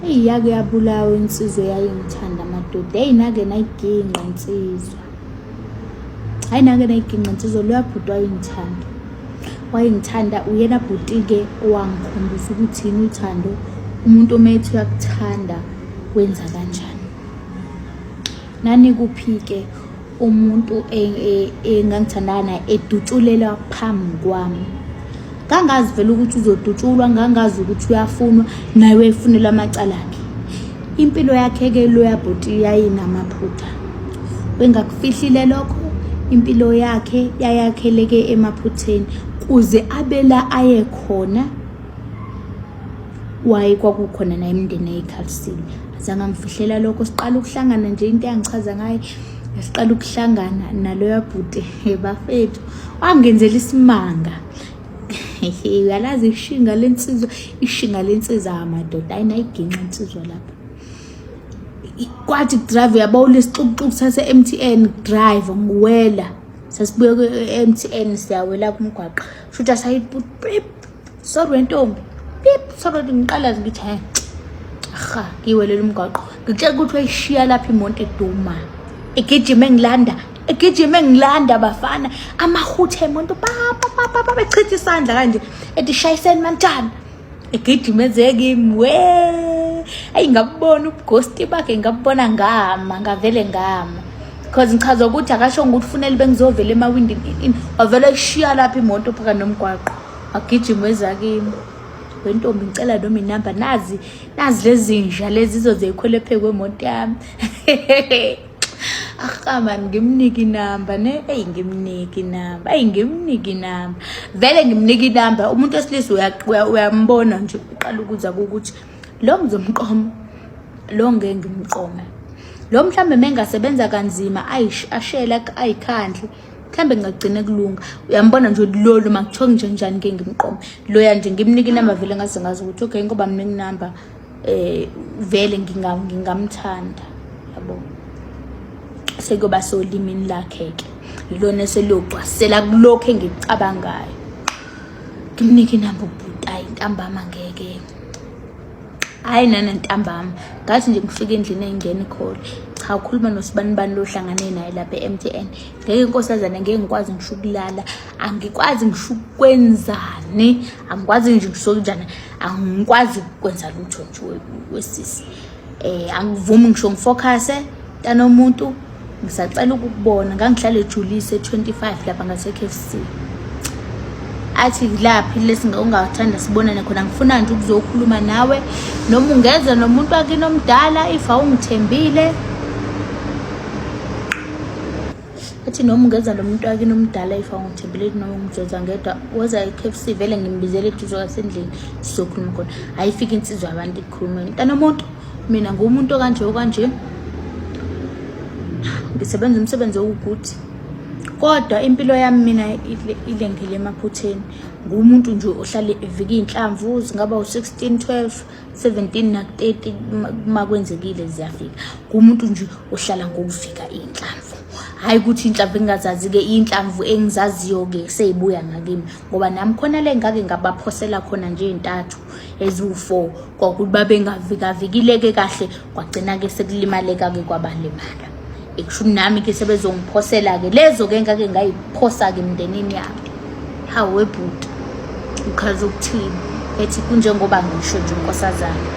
Eyi yake yabulawa insizwa eyayingithanda amadoda. Eyi nake nayigingqa insizwa. Hayi nake nayigingqa insizwa loya bhuti wayengithanda. Wayengithanda uyena bhuti-ke owangikhombisa ukuthi yini uthando. Umuntu omethi uyakuthanda wenza kanjani. Nanikuphi-ke umuntu e, e, engangithandana naye edutshulelwa phambi kwami ngangazi vele ukuthi uzodutshulwa ngangazi ukuthi uyafunwa naye wefunelwa amacala akhe impilo yakhe-ke loya bhuti yayinamaphutha wengakufihlile lokho impilo yakhe yayakheleke emaphutheni kuze abela aye khona waye kwakukhona naye imndeni eyikhalisile azange angifihlela lokho siqala ukuhlangana nje into eyangichaza ngayo siqala ukuhlangana naloya bhuti bafethu wangenzela isimanga uyalazi ishinga lensizwa ishinga lensiza amadoda ayinayiginqa insizwa lapha kwathi drive uyabona isixukuxuku sase MTN drive ngiwela sasibuye ku-MTN siyawela kumgwaqo shutha sayibut sorry wentombi pip sorry ngiqalazi ngithi he aha ngiwelela umgwaqo ngitshela ukuthi wayishiya lapha imonto eduma egijima engilanda egijima engilanda bafana amahuthe emonto papapapa bechitha isandla kanje ethi shayiseni mantshana egijima ezekimi we ayi ngabubona ubugosti bakhe ngabubona ngama ngavele ngama because ngichaza ukuthi akashongo ukuthi ufunele bengizovela emawindini wavele kushiya lapha imoto phakathi nomgwaqo agijima wezakimi wentombi ngicela noma inamba nazi nazi lezinja lezi izozeyikhwele phe kwemoto yami ahamani ah, ngimnike inamba ne eyi ngimnike inamba eyi ngimnike inamba vele ngimnike inamba umuntu wesilisa uyambona nje uqala ukuza kukuthi lo ngizomqoma lo ngeke ngimqome lo mhlawumbe mengasebenza kanzima ashela ayikhandle mhlawumbe ngingagcina kulunga uyambona nje ukuthi lolu ma kuthiwa nje njani ke ngimqome loya nje ngimnike inamba vele ngaze ngazi ukuthi okay ngoba mina nginamba eh vele ngingamthanda yabo sekuyoba solimini lakhe ke yilona eseliyogcwasela kulokhu engikucabangayo ngimnike inamba ubhuti ayi ntambama ngeke hayi nana ntambama ngathi nje ngifike endlini engingena ikhole cha ukhuluma nosibanibani lohlangane naye lapha e-mtn ngeke inkosazana ngeke ngikwazi ngisho ukulala angikwazi ngisho ukwenzani angikwazi nje ngisokunjani angikwazi ukwenza lutho nje wesisi um angivumi ngisho ngifocuse tanomuntu ngisacela ukukubona ngangihlale ejulise 25 lapha ngase-KFC athi laphi lesi ungathanda sibonane khona ngifuna nje ukuzokhuluma nawe noma ungeza nomuntu wakini omdala if awungithembile athi noma ungeza nomuntu wakini omdala if awungithembile noma ungijoza ngedwa woza e-KFC vele ngimbizele eduze kwasendlini sizokhuluma khona ayifike insizwa abantu khulumela mntana omuntu mina ngumuntu okanje okanje ngisebenza umsebenzi owukuthi kodwa impilo yami mina ilengele emaphutheni ngumuntu nje ohlale evika iy'nhlamvu zingaba u-16 12 17 naku-30 uma kwenzekile ziyafika ngumuntu nje ohlala ngokuvika iy'nhlamvu hhayi ukuthi inhlamvu engingazazi-ke iy'nhlamvu engizaziyo-ke seyibuya ngakimi ngoba nami khona le ngake ngabaphosela khona nje ntathu eziwu-four kwakuthi babengavikavikileke kahle kwagcina-ke sekulimaleka-ke kwabalimala ekushuni nami-ke sebezongiphosela-ke lezo-ke ngake ngayiphosa-ke emndenini yabo hawe bhuti uchaza ukuthini ethi kunjengoba ngisho nje unkosazana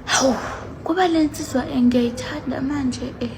hawu kuba le nsizwa engiyayithanda manje um eh.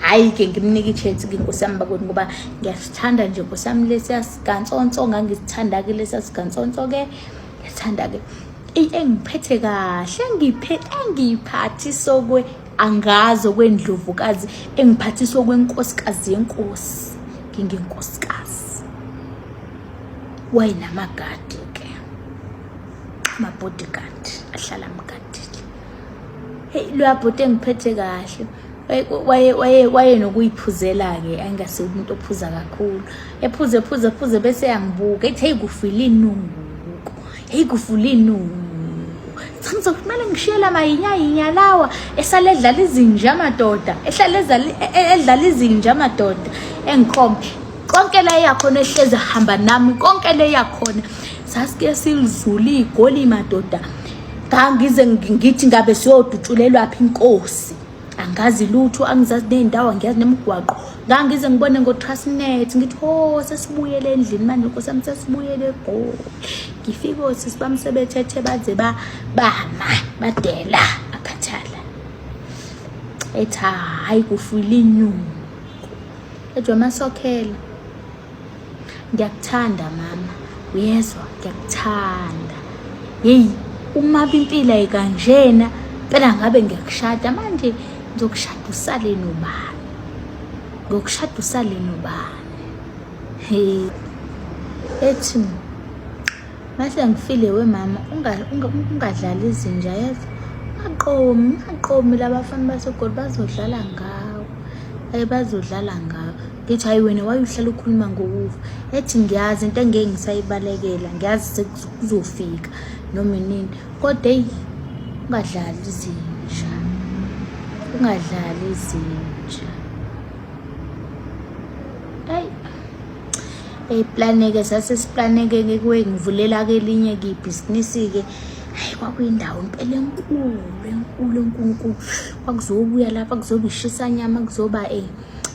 hhayi-ke ngimnike i-chance ke nkosi yami bakweni ngoba ngiyasithanda nje nkosi yami lesiya sigansonso ngangisithanda-ke lesiya sigansonso-ke ngiyasithanda-ke engiphethe kahle engiphe engiyiphathisokwe angazi okwendlovukazi engiphathiswe okwenkosikazi yenkosi ngingenkosikazi wayenamagadi ke amabodyguard ahlala mgadile heyi luyabhuti engiphethe kahle wayenokuyiphuzela-ke angase umuntu ophuza kakhulu ephuze ephuze ephuze bese yangibuka ethi heyi kufile inunguko heyi kufule inunguko chamisa kumele ngishiyela mayinyayinya lawa esale edlala izinja amadoda ehlale e-, e-, edlala izinja amadoda engikhombe konke la yakhona ehlezi hamba nami konke le yakhona sasike silizula igoli madoda ngangize ngithi ngabe siyodutshulelwa phi inkosi angazi lutho angizazi ney'ndawo angiyazi nemigwaqo ngangize ngibone ngotrasnet ngithi ho oh, sesibuyele endlini manje nkosi yami sesibuyele egoli ngifike osisi bami sebethethe baze bama badela akhathala ethi hhayi kufuyile inyungu ejwa masokhela ngiyakuthanda mama uyezwa ngiyakuthanda yeyi uma bimpila ikanjena phela ngabe ngiyakushada manje ngizokushada usale nobani ngokushada usale nobani he ethi Mase ngifile we mama ungadlala izinja yazi aqomi aqomi labafana basegoli bazodlala ngawo ayi bazodlala ngawo ngithi hayi wena wayuhlala ukhuluma ngokufa ethi ngiyazi into engeke ngisayibalekela ngiyazi sekuzofika noma inini kodwa eyi ungadlali izinja ungadlali izinja eyiplaneke sase siplaneke ke kuwe ngivulela ke elinye kibhizinisi-ke hayi kwakuyindawo impela enkulu enkulu enkunkulu kwakuzobuya lapha kuzoba ishisanyama kuzoba um eh,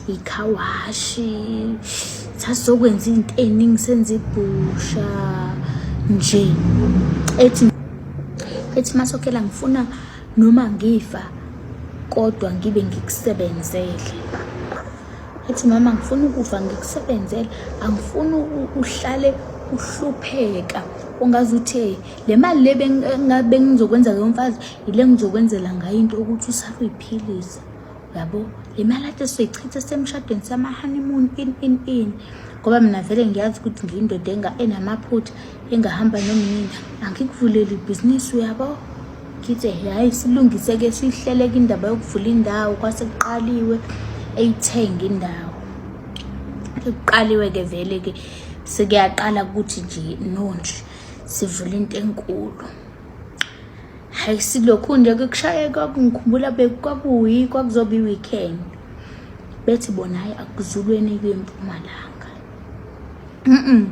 ikhawashi sasizokwenza into eningi senza ibhusha nje ethi ethi masokhela ngifuna noma ngifa kodwa ngibe ngikusebenzele ethi mama ngifuna ukufa ngikusebenzela angifuni uhlale uhlupheka ungaze uthe le mali le bengizokwenza ke mfazi yile ngizokwenzela ngayo into ukuthi usakuyiphilisa yabo le mali ade soyichitha semshadweni sama-honeymoon in in in ngoba mina vele ngiyazi ukuthi ngiyindoda enamaphutha engahamba nomnini angikuvuleli ibhizinisi uyabo ngithe hhayi silungise-ke sihleleke indaba yokuvula indawo kwase kuqaliwe eyithenga indawo sekuqaliwe-ke vele-ke sekuyaqala ukuthi nje nonje sivule into enkulu hhayi silokhu nje kukushaye kwakungikhumbula kwakuyi kwakuzoba i-weekend bethi bona hhayi akuzulweni kwempumalanga mhm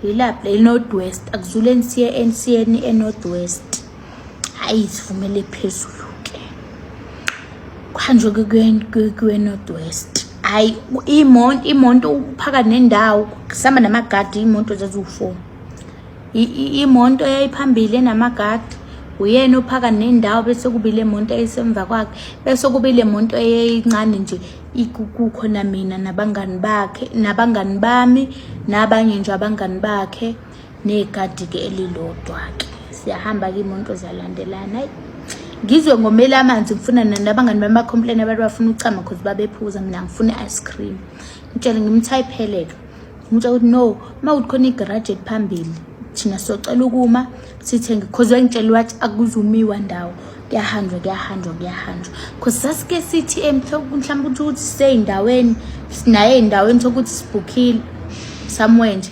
yilapha eNorth West akuzuleni siye eNsiyeni eNorth West hayi sivumele phezulu ke kuhanjwe kwiNorth West hayi imonto imonto uphakathi nendawo kusama namagadi imonto zaziwu-four imonto eyayiphambili enamagadi uyena ophakathi nendawo bese kubile monto eyisemva kwakhe bese kubile monto eyincane nje ikukukho namina nabangani bakhe nabangani bami nabanye nje abangani bakhe negadi-ke elilodwa-ke siyahamba-ke imoto zalandelana ayi ngizwe ngomele amanzi ngifuna nabangani bami bacomplain abantu bafuna ukuchama cause babephuza mina ngifuna i-ice cream ngitshele ngimthayipheleke ngimtshela ukuthi no uma kuthi khona igaraji eliphambili thina socela ukuma sithenge cause wangitshela wathi akuzumiwa ndawo kuyahanjwa kuyahanjwa kuyahanjwa cause sasike sithi mhlawumbe ukuthi ukuthi siseyindaweni sinaye eyindaweni sokuthi sibhukhile somewhere nje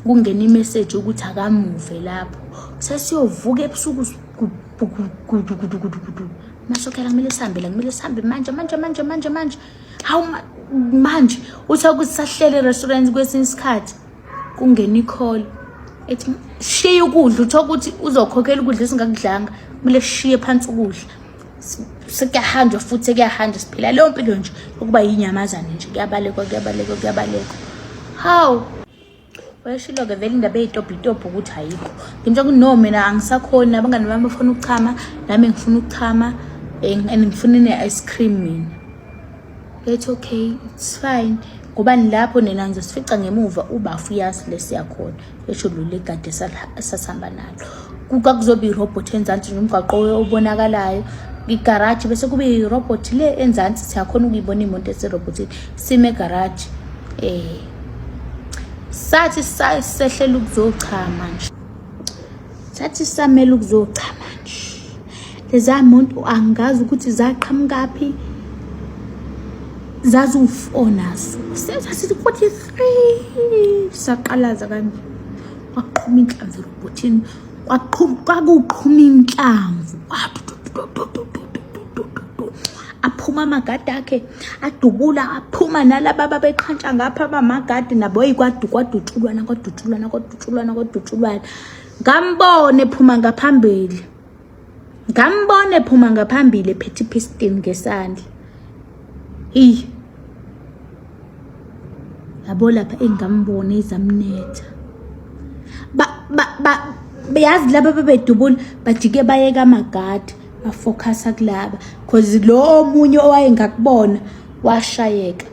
kungena imeseji ukuthi akamuve lapho sesiyovuka ebusuku gudugudugudugudu masokela kumele sihambe la kumele sihambe manje manje manje manje manje hawu manje uthe ukuthi sahlele restaurant kwesinye isikhathi kungena ikholo ethi shiye ukudla utho ukuthi uzokhokhela ukudla esingakudlanga kumele sishiye phansi ukudla sekuyahanjwa futhi sekuyahanjwa siphila leyo mpilo nje ukuba yinyamazane nje kuyabalekwa kuyabalekwa kuyabalekwa hawu wayeshilo-ke vele indaba eyitobhitobho ukuthi ayikho ngintsho ukuthi no mina angisakhoni abangani bami bafuna ukuchama nami ngifuna ukuchama eh, and ngifuna ine-ice cream mina It's okay, it's fine. Ngoba nilapho nina ngizosifica ngemuva ubafu uyazi lesiyakhona. Esho lo legade sasihamba nalo. Kuka kuzoba irobot enzansi nomgwaqo obonakalayo. Igaraji bese kube irobot le enzansi siyakhona ukuyibona imoto eserobotini. Sime garage. Eh. Sathi sehlela ukuzochama nje. Sathi samela ukuzochama nje. leza muntu angazi ukuthi zaqhamukaphi zaziwufonaso senza sithi 43 saqalaza kanje kwaqhuma inhlamvu robotini kwaqhuma kwakuqhuma inhlamvu aphuma amagadi akhe adubula aphuma nalaba babeqhantsha ngapha abamagadi nabo yikwadukwadutshulwana kwadutshulwana kwadutshulwana kwadutshulwana ngambone phuma ngaphambili ngambona ephuma ngaphambili ephethe ipistin ngesandla eyi yabo lapha engambona izamnetha yazi laba babedubula bajike bayeka amagadi bafokhasa kulaba cause lo omunye owayengakubona washayeka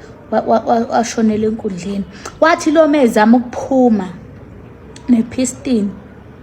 washonela enkundleni wathi lo mezama ukuphuma nepistin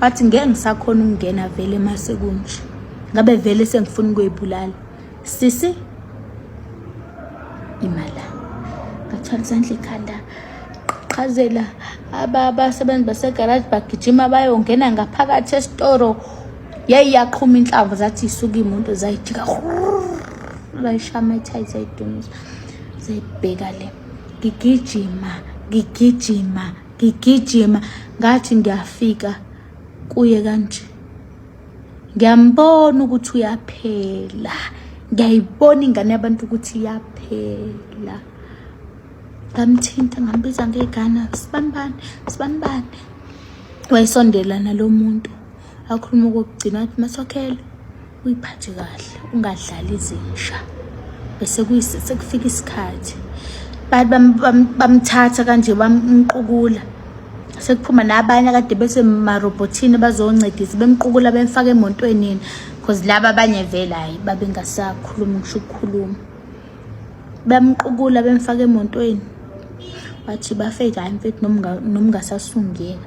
wathi ngeke ngisakhona ukungena vele mase kunje ngabe vele sengifuna ukuyibulala sisi imala ngathwala isandla ekhanda qhazela abasebenzi basegaraji bagijima bayongena ngaphakathi esitoro yayi yaqhuma inhlamvu zathi isuke imoto zayijika layishama ithayi zayidumisa zayibheka le ngigijima ngigijima ngigijima ngathi ngiyafika kuye kanje ngiyambona ukuthi uyaphela ngiyayibona ingane yabantu ukuthi iyaphela ngamthinta ngambiza ngegana sibanibani sibanibani wayesondela nalo muntu akhuluma okokugcina athi masokhele uyiphathe kahle ungadlali izinja bese sekufika isikhathi bamthatha kanje bamqukula sekuphuma nabanye kade bese marobhothini bazoncedisa bemqukula bemfaka emotwenini because laba abanye vele hayi babengasakhulumi ngisho ukukhuluma bamqukula bemfaka emotweni wathi bafeyda hayi mfethu nomngasasungeka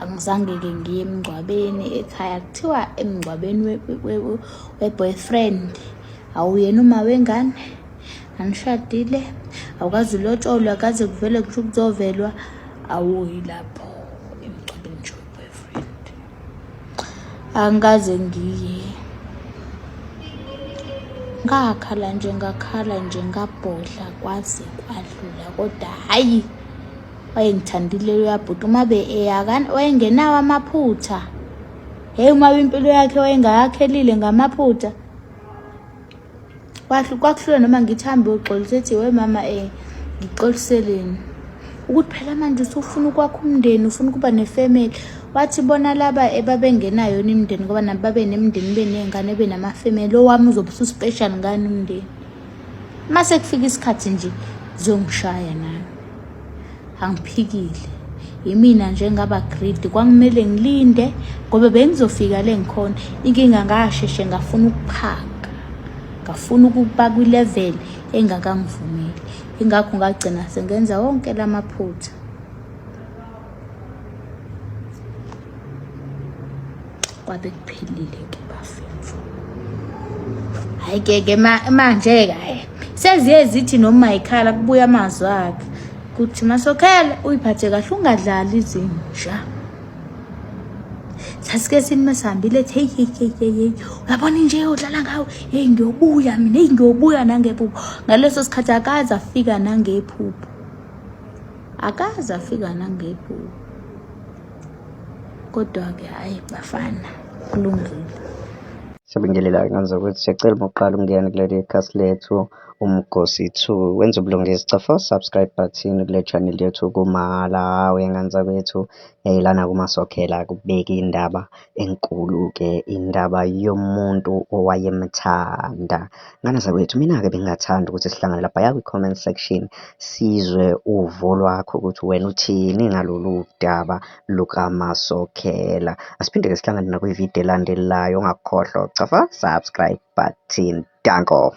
angizange-ke ngiye emngcwabeni ekhaya kuthiwa emngcwabeni we-boyfriend we, we, we awuyena uma wengane anishadile awukazi ulotsholwa kaze kuvele kusho ukuzovelwa awuyi lapho emngcwabeni nje we-boyfriend angikaze ngiye ngakhala nje ngakhala nje ngabhodla kwaze kwadlula kodwa hhayi wayengithandile loya bhuti uma be eyakani wayengenawo amaphutha heyi uma impilo yakhe wayengayakhelile ngamaphutha kwakuhlula noma ngithi hambe uxolisa ethi we mama um eh, ngixoliseleni ukuthi phela manje usufuna ukwakha umndeni ufuna ukuba nefamily wathi bona laba ebabengenayo yona imndeni ngoba nabo babe nemndeni beney'ngane benamafamily owami uzobe ususpecial ngani umndeni uma sekufika isikhathi nje ziyongishaya nami angiphikile yimina nje ngaba greed kwakumele ngilinde ngoba bengizofika le ngikhona inkinga ngasheshe ngafuna ukuphaka ngafuna ukuba kwi-level engakangivumeli ingakho ngagcina sengenza wonke la maphutha kwabe kuphelile ke bafethu hayi ke ke manje ke hayi seziye zithi noma ikhala kubuya amazwi akhe kuthi masokhele uyiphathe kahle ungadlali izinja sasike sini masihambile ethi heyi heyi heyi heyi heyi uyabona inje udlala ngawo heyi ngiyobuya mina heyi ngiyobuya nangephupho ngaleso sikhathi akaze afika nangephupho akaze afika nangephupho kodwa-ke hhayi bafana kulungile siyabingelela ngenza ukuthi siyacela uma uqala ukungena kuleli khasi lethu umgosi 2 wenza ubulungisi cofa subscribe button kule channel yethu kumalawi ngenza kwethu yayilana kumasokhela kubeki indaba enkulu-ke indaba yomuntu owayemthanda. Ngane zakwethu, mina-ke bengingathanda ukuthi sihlangane lapha ya kwi-comment section sizwe uvo lwakho ukuthi wena uthini ngalolu daba lukamasokhela. Asiphinde-ke sihlangane nakwividiyo elandelayo, ungakhohlwa ukuchafa subscribe button. Danko.